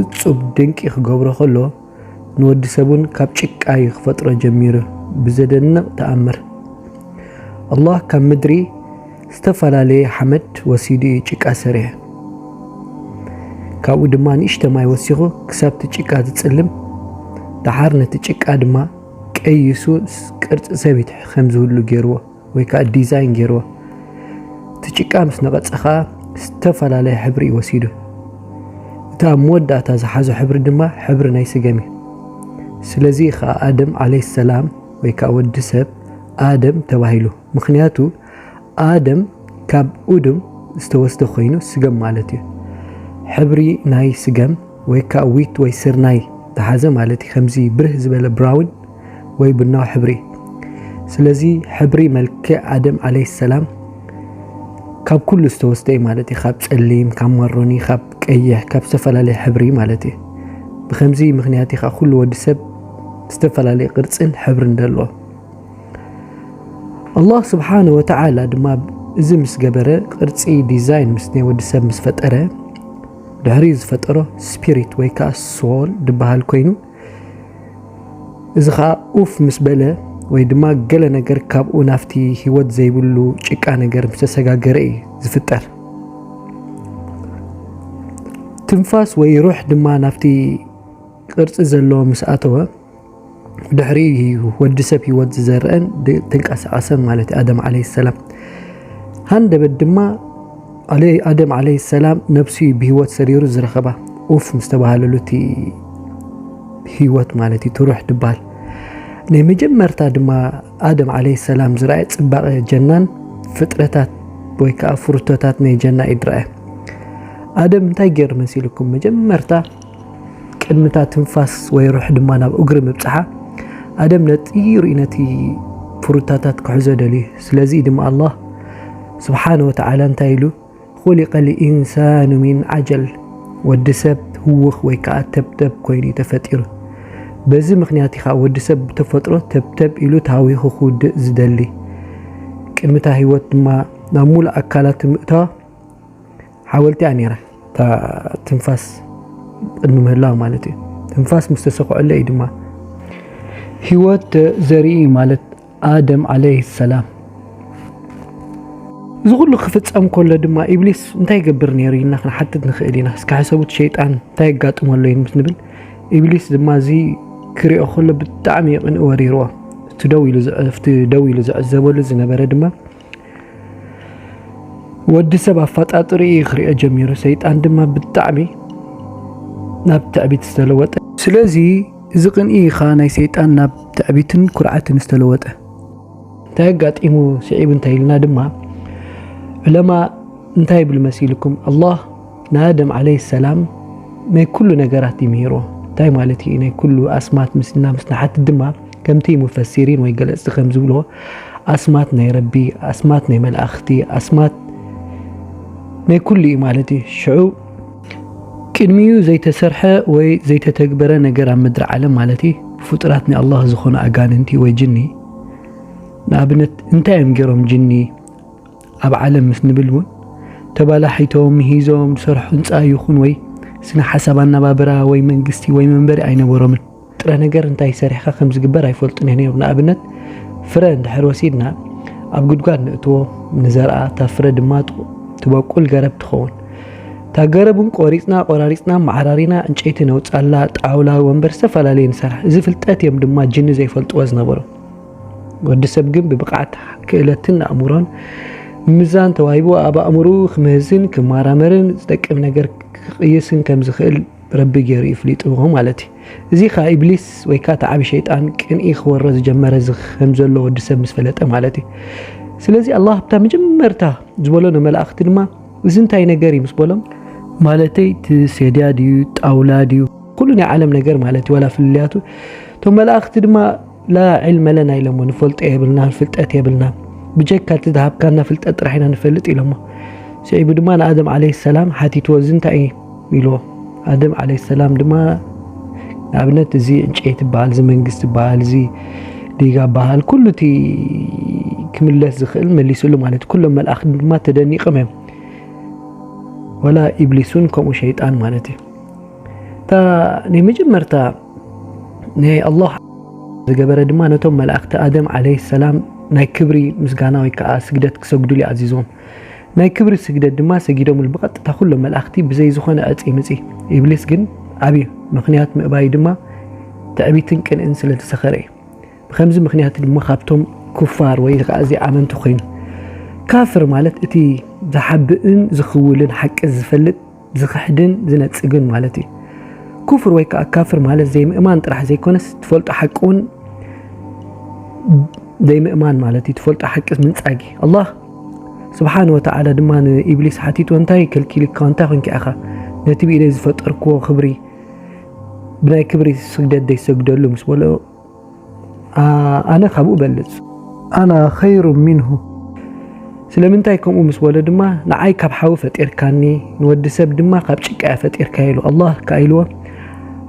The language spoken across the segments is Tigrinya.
እጹብ ድንቂ ክገብሮ ከሎ ንወዲ ሰብ ውን ካብ ጭቃ ዩ ክፈጥሮ ጀሚሩ ብዘደንቅ ተኣምር ኣላህ ካብ ምድሪ ዝተፈላለየ ሓመድ ወሲዱ ዩ ጭቃ ሰሪሑ ካብኡ ድማ ንእሽተ ማይ ወሲኹ ክሳብቲ ጭቃ ዝጽልም ደሓር ነቲ ጭቃ ድማ ቀይሱ ቅርጺ ሰብ ከም ዝህሉ ጌርዎ ወይ ከዓ ዲዛይን ገይርዎ። እቲ ጭቃ ምስ ነቐፀ ከዓ ዝተፈላለየ ሕብሪ እዩ ወሲዱ። እቲ ኣብ መወዳእታ ዝሓዞ ሕብሪ ድማ ሕብሪ ናይ ስገም እዩ። ስለዚ ከዓ ኣደም ዓለይ ሰላም ወይ ከዓ ወዲ ሰብ ኣደም ተባሂሉ። ምክንያቱ ኣደም ካብ ኡድም ዝተወስደ ኮይኑ ስገም ማለት እዩ። ሕብሪ ናይ ስገም ወይ ከዓ ዊት ወይ ስርናይ ዝሓዘ ማለት እዩ። ከምዚ ብርህ ዝበለ ብራውን ወይ ቡናዊ ሕብሪ ስለዚ ሕብሪ መልክዕ ኣደም ዓለይሂ ሰላም ካብ ኩሉ ዝተወስደ እዩ ማለት እዩ ካብ ጸሊም ካብ ማሮኒ ካብ ቀይሕ ካብ ዝተፈላለየ ሕብሪ ማለት እዩ ብከምዚ ምክንያት እዩ ኩሉ ወዲ ሰብ ዝተፈላለየ ቅርጽን ሕብርን ደሎ ኣላህ ስብሓነ ወተዓላ ድማ እዚ ምስ ገበረ ቅርጺ ዲዛይን ምስ ናይ ወዲ ሰብ ምስ ፈጠረ ድሕሪ ዝፈጠሮ ስፒሪት ወይ ከዓ ሶል ድበሃል ኮይኑ እዚ ኸኣ ኡፍ ምስ በለ ወይ ድማ ገለ ነገር ካብኡ ናፍቲ ህይወት ዘይብሉ ጭቃ ነገር ምስ ተሰጋገረ እዩ ዝፍጠር። ትንፋስ ወይ ሩሕ ድማ ናፍቲ ቅርጺ ዘለዎ ምስ ኣተወ ድሕሪ እዩ ወዲ ሰብ ህይወት ዝዘርአን ተንቀሳቐሰን ማለት ኣደም ዓለይሂ ሰላም ሃንደበት ድማ ኣሌ ኣደም ዓለይ ሰላም ነብሱ እዩ ብሂወት ሰሪሩ ዝረኸባ ኡፍ ምስ ተባሃለሉ እቲ ሂወት ማለት እዩ ትሩሕ ድባል ናይ መጀመርታ ድማ ኣደም ዓለይ ሰላም ዝረኣየ ጽባቐ ጀናን ፍጥረታት ወይ ከዓ ፍሩቶታት ናይ ጀና እዩ ድረኣየ ኣደም እንታይ ገይሩ መሲልኩም መጀመርታ ቅድሚ እታ ትንፋስ ወይ ሩሕ ድማ ናብ እግሪ ምብጽሓ ኣደም ነጢሩ እዩ ነቲ ፍሩታታት ክሕዞ ደልዩ ስለዚ ድማ ኣላህ ስብሓነ ወተዓላ እንታይ ኢሉ ኹሊቀ ልኢንሳኑ ሚን ዓጀል ወዲ ሰብ ህውኽ ወይ ከዓ ተብተብ ኮይኑ እዩ ተፈጢሩ በዚ ምክንያት ኢኻ ወዲ ሰብ ብተፈጥሮ ተብተብ ኢሉ ተሃዊኹ ክውድእ ዝደሊ ቅድሚታ ህይወት ድማ ናብ ሙሉእ ኣካላት ምእታዋ ሓወልቲ እያ ነይራ እታ ትንፋስ ቅድሚ ምህላው ማለት እዩ ትንፋስ ምስ ተሰክዐለ እዩ ድማ ህይወት ዘርኢ ማለት ኣደም ዓለይህ ሰላም እዚ ኩሉ ክፍፀም ከሎ ድማ ኢብሊስ እንታይ ይገብር ነይሩ ኢልና ክንሓትት ንኽእል ኢና እስከ ሕሰቡት ሸይጣን እንታይ የጋጥሞ ኣሎ ምስ ንብል ኢብሊስ ድማ እዚ ክሪኦ ከሎ ብጣዕሚ ቅንእ ወሪርዎ እቲ ደው ኢሉ ዘዕዘበሉ ዝነበረ ድማ ወዲ ሰብ ኣፋጣጥሪ እዩ ክሪኦ ጀሚሩ ሰይጣን ድማ ብጣዕሚ ናብ ትዕቢት ዝተለወጠ ስለዚ እዚ ቅንኢ ኢኻ ናይ ሰይጣን ናብ ትዕቢትን ኩርዓትን ዝተለወጠ እንታይ ኣጋጢሙ ስዒቡ እንታይ ኢልና ድማ ዕለማ እንታይ ይብል መሲልኩም ኣላህ ንኣደም ዓለይ ሰላም ናይ ኩሉ ነገራት ይምህሮ እንታይ ማለት እዩ ናይ ኩሉ ኣስማት ምስና ምስ ንሓቲ ድማ ከምቲ ሙፈሲሪን ወይ ገለጽቲ ከም ዝብሎ ኣስማት ናይ ረቢ ኣስማት ናይ መላእኽቲ ኣስማት ናይ ኩሉ እዩ ማለት እዩ ሽዑ ቅድሚኡ ዘይተሰርሐ ወይ ዘይተተግበረ ነገር ኣብ ምድሪ ዓለም ማለት እዩ ብፍጡራት ናይ ኣላህ ዝኾኑ ኣጋንንቲ ወይ ጅኒ ንኣብነት እንታይ እዮም ገይሮም ጅኒ ኣብ ዓለም ምስ ንብል እውን ተባላሒቶም ሂዞም ዝሰርሑ ህንፃ ይኹን ወይ ስነ ሓሳብ ኣነባብራ ወይ መንግስቲ ወይ መንበሪ ኣይነበሮምን ጥረ ነገር እንታይ ሰሪሕካ ከም ዝግበር ኣይፈልጡን ነይሮም። ንኣብነት ፍረ እንድሕር ወሲድና ኣብ ጉድጓድ ንእትዎ ንዘርኣ፣ እታ ፍረ ድማ ትበቁል ገረብ ትኸውን። እታ ገረብ እውን ቆሪፅና ቆራሪፅና መዓራሪና እንጨይቲ ነውፃላ፣ ጣውላ፣ ወንበር ዝተፈላለየ ንሰርሕ። እዚ ፍልጠት እዮም ድማ ጅኒ ዘይፈልጥዎ ዝነበሩ። ወዲ ሰብ ግን ብብቕዓት ክእለትን ኣእምሮን ምዛን ተዋሂቡ ኣብ ኣእምርኡ ክምህዝን ክመራመርን ዝጠቅም ነገር ክቕይስን ከም ዝኽእል ረቢ ገይሩ እዩ ፍሊጥዎ ማለት እዩ። እዚ ከኣ ኢብሊስ ወይ ከኣ እቲ ዓቢ ሸይጣን ቅንኢ ክወሮ ዝጀመረ ከም ዘሎ ወዲ ሰብ ምስ ፈለጠ ማለት እዩ። ስለዚ ኣላህ ኣብታ መጀመርታ ዝበሎ ንመላእኽቲ ድማ እዚ እንታይ ነገር እዩ ምስ በሎም ማለተይ እቲ ሴድያ ድዩ ጣውላ ድዩ ኩሉ ናይ ዓለም ነገር ማለት እዩ ዋላ ፍልልያቱ እቶም መላእኽቲ ድማ ላ ዒልመ ለና ኢሎሞ ንፈልጦ የብልናን ፍልጠት የብልናን ብጀካ እቲ ዝሃብካና ፍልጠት ጥራሕ ኢና ንፈልጥ ኢሎሞ ስዒቡ ድማ ንኣደም ዓለይ ሰላም ሓቲትዎ እዚ እንታይ እዩ ኢልዎ ኣደም ዓለይ ሰላም ድማ ንኣብነት እዚ ዕንጨይቲ በሃል እዚ መንግስቲ በሃል እዚ ዲጋ በሃል ኩሉ እቲ ክምለስ ዝኽእል መሊሱሉ ማለት እዩ ኩሎም መልኣኽቲ ድማ ተደኒቕም እዮም ወላ ኢብሊሱን ከምኡ ሸይጣን ማለት እዩ እታ ናይ መጀመርታ ንኣላህ ዝገበረ ድማ ነቶም መላእኽቲ ኣደም ዓለይሂ ሰላም ናይ ክብሪ ምስጋና ወይ ከዓ ስግደት ክሰግዱሉ ይኣዚዞም። ናይ ክብሪ ስግደት ድማ ሰጊዶምሉ ብቐጥታ ኩሎም መላእኽቲ ብዘይ ዝኾነ ዕፂ ምፂ። ኢብሊስ ግን ኣብዩ። ምኽንያት ምእባዩ ድማ ትዕቢትን ቅንእን ስለዝሰኸረ እዩ። ብከምዚ ምኽንያት ድማ ካብቶም ኩፋር ወይ ከዓ ዘይኣመንቲ ኮይኑ። ካፍር ማለት እቲ ዝሓብእን ዝኽውልን ሓቂ ዝፈልጥ ዝኽሕድን ዝነጽግን ማለት እዩ። ኩፍር ወይ ከዓ ካፍር ማለት ዘይምእማን ጥራሕ ዘይኮነስ ትፈልጦ ሓቂ እውን ዘይምእማን ማለት እዩ። ትፈልጦ ሓቂ ምንጻግ እዩ። ኣላህ ስብሓን ወተዓላ ድማ ንኢብሊስ ሓቲቱ እንታይ ከልኪልካ እንታይ ኮንኪ ኢኻ ነቲ ብኢደይ ዝፈጠርክዎ ክብሪ ብናይ ክብሪ ስግደት ዘይሰግደሉ ምስ በሎ ኣነ ካብኡ እበልጽ ኣና ኸይሩ ሚንሁ ስለምንታይ ከምኡ ምስ በሎ ድማ ንዓይ ካብ ሓዊ ፈጢርካኒ ንወዲ ሰብ ድማ ካብ ጭቃ እያ ፈጢርካ ኢሉ ኣላህ ከዓ ኢልዎ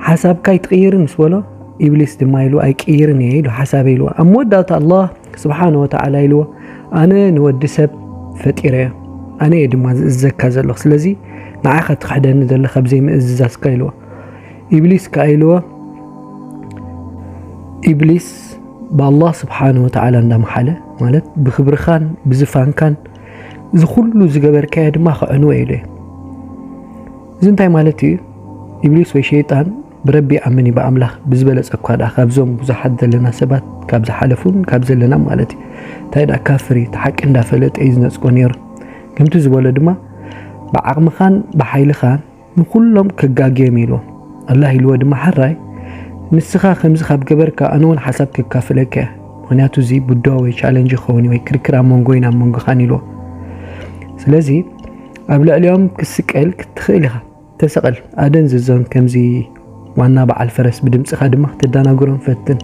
ሓሳብካ ይትቕይርን ምስ በሎ ኢብሊስ ድማ ኢሉ ኣይቅይርን እየ ኢሉ ሓሳበ ኢልዎ ኣብ መወዳእታ ኣላህ ስብሓነ ወተዓላ ኢልዎ ኣነ ንወዲ ሰብ ፈጢረ እየ ኣነ እየ ድማ ዝእዘካ ዘለኹ ስለዚ ንዓኻ ትኽሕደኒ ዘለኻ ብዘይ ምእዝዛዝካ ኢልዎ ኢብሊስ ከኣ ኢልዎ ኢብሊስ ብኣላህ ስብሓን ወተዓላ እንዳመሓለ ማለት ብክብርኻን ብዝፋንካን እዚ ኩሉ ዝገበርካዮ ድማ ክዕንወ ኢሉ እዩ እዚ እንታይ ማለት እዩ ኢብሊስ ወይ ሸይጣን ብረቢ ይኣምን እዩ ብኣምላኽ ብዝበለፀ እኳ ደኣ ካብዞም ብዙሓት ዘለና ሰባት ካብ ዝሓለፉን ካብ ዘለና ማለት እዩ እንታይ ደኣ ካፍር እዩ ሓቂ እንዳፈለጠ እዩ ዝነፅጎ ነይሩ ከምቲ ዝበሎ ድማ ብዓቕምኻን ብሓይልኻን ንኹሎም ከጋግዮም ኢሎም ኣላህ ኢልዎ ድማ ሐራይ ንስኻ ከምዚ ካብ ገበርካ ኣነ ውን ሓሳብ ከካፍለካ እየ ምክንያቱ እዚ ቡዳ ወይ ቻለንጅ ይኸውን ወይ ክርክር ኣብ መንጎይን ኣብ መንጎኻን ኢልዎ ስለዚ ኣብ ልዕሊኦም ክስቀል ክትኽእል ኢኻ ተሰቐል ኣደንዝዞም ከምዚ ዋና በዓል ፈረስ ብድምፅኻ ድማ ክተዳናግሮም ፈትን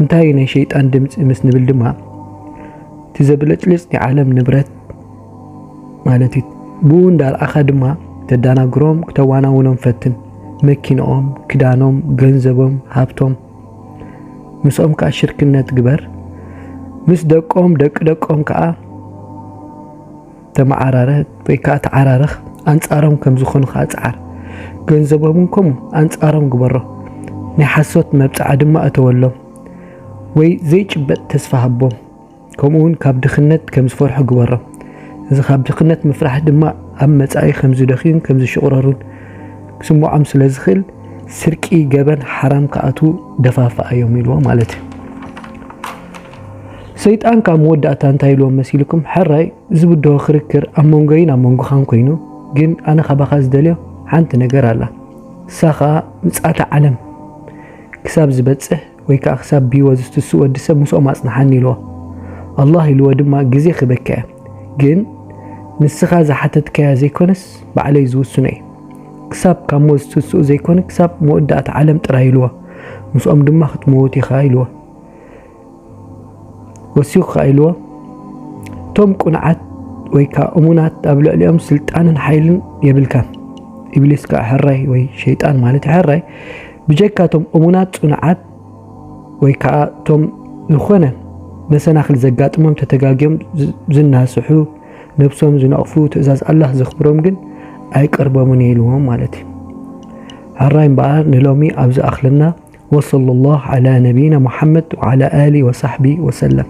እንታይ ናይ ሸይጣን ድምፂ ምስ ንብል ድማ እቲ ዘብለጭልጭ ናይ ዓለም ንብረት ማለት እዩ። ብኡ እንዳርኣኻ ድማ ክተዳናግሮም ክተዋናውኖም ፈትን። መኪንኦም፣ ክዳኖም፣ ገንዘቦም፣ ሃብቶም። ምስኦም ከኣ ሽርክነት ግበር። ምስ ደቆም፣ ደቂ ደቆም ከኣ ተመዓራረ ወይ ከኣ ተዓራረኽ። ኣንጻሮም ከም ዝኾኑ ከኣ ጽዓር። ገንዘቦምን ከምኡ ኣንጻሮም ግበሮ። ናይ ሓሶት መብጽዓ ድማ እተወሎም ወይ ዘይጭበጥ ተስፋ ሃቦም። ከምኡ ውን ካብ ድኽነት ከም ዝፈርሑ ግበሮም። እዚ ካብ ድኽነት ምፍራሕ ድማ ኣብ መጻኢ ከም ዝደኽዩን ከም ዝሽቑረሩን ክስምዖም ስለ ዝኽእል ስርቂ፣ ገበን፣ ሓራም ክኣትዉ ደፋፍኣዮም ኢልዎ ማለት እዩ። ሰይጣን ካብ መወዳእታ እንታይ ኢልዎም መሲልኩም? ሕራይ ዝብድሆ ክርክር ኣብ መንጎይን ኣብ መንጎኻን ኮይኑ ግን ኣነ ካባኻ ዝደልዮ ሓንቲ ነገር ኣላ። ንሳ ከዓ ምጽኣተ ዓለም ክሳብ ዝበጽሕ ወይ ከኣ ክሳብ ብህይወት ዝትስእ ወዲ ሰብ ምስኦም ኣጽንሓኒ ኢልዎ። ኣላህ ኢልዎ ድማ ግዜ ክበክ'የ። ግን ንስኻ ዝሓተትካዮ ዘይኮነስ ባዕለይ ዝውስኖ'የ። ክሳብ ካብ ሞት ዝትስኡ ዘይኮነ ክሳብ መወዳእታ ዓለም ጥራይ ኢልዎ። ምስኦም ድማ ክትመውት ኢኻ ኢልዎ። ወሲኹ ከኣ ኢልዎ እቶም ቁንዓት ወይ ከኣ እሙናት ኣብ ልዕሊኦም ስልጣንን ሓይልን የብልካን። ኢብሊስ ከኣ ሕራይ ወይ ሸይጣን ማለት ሕራይ ብጀካ እቶም እሙናት ጽኑዓት ወይ ከኣ እቶም ዝኾነ መሰናኽል ዘጋጥሞም ተተጋግዮም ዝናስሑ ነብሶም ዝነቕፉ ትእዛዝ ኣላህ ዘኽብሮም ግን ኣይቀርቦምን እዩ ኢልዎም ማለት እዩ። ሕራይ እምበኣር ንሎሚ ኣብ ዝኣኽለና ወሰለላሁ ዓላ ነቢይና ሙሓመድ ወዓላ ኣሊ ወሳሕቢ ወሰለም።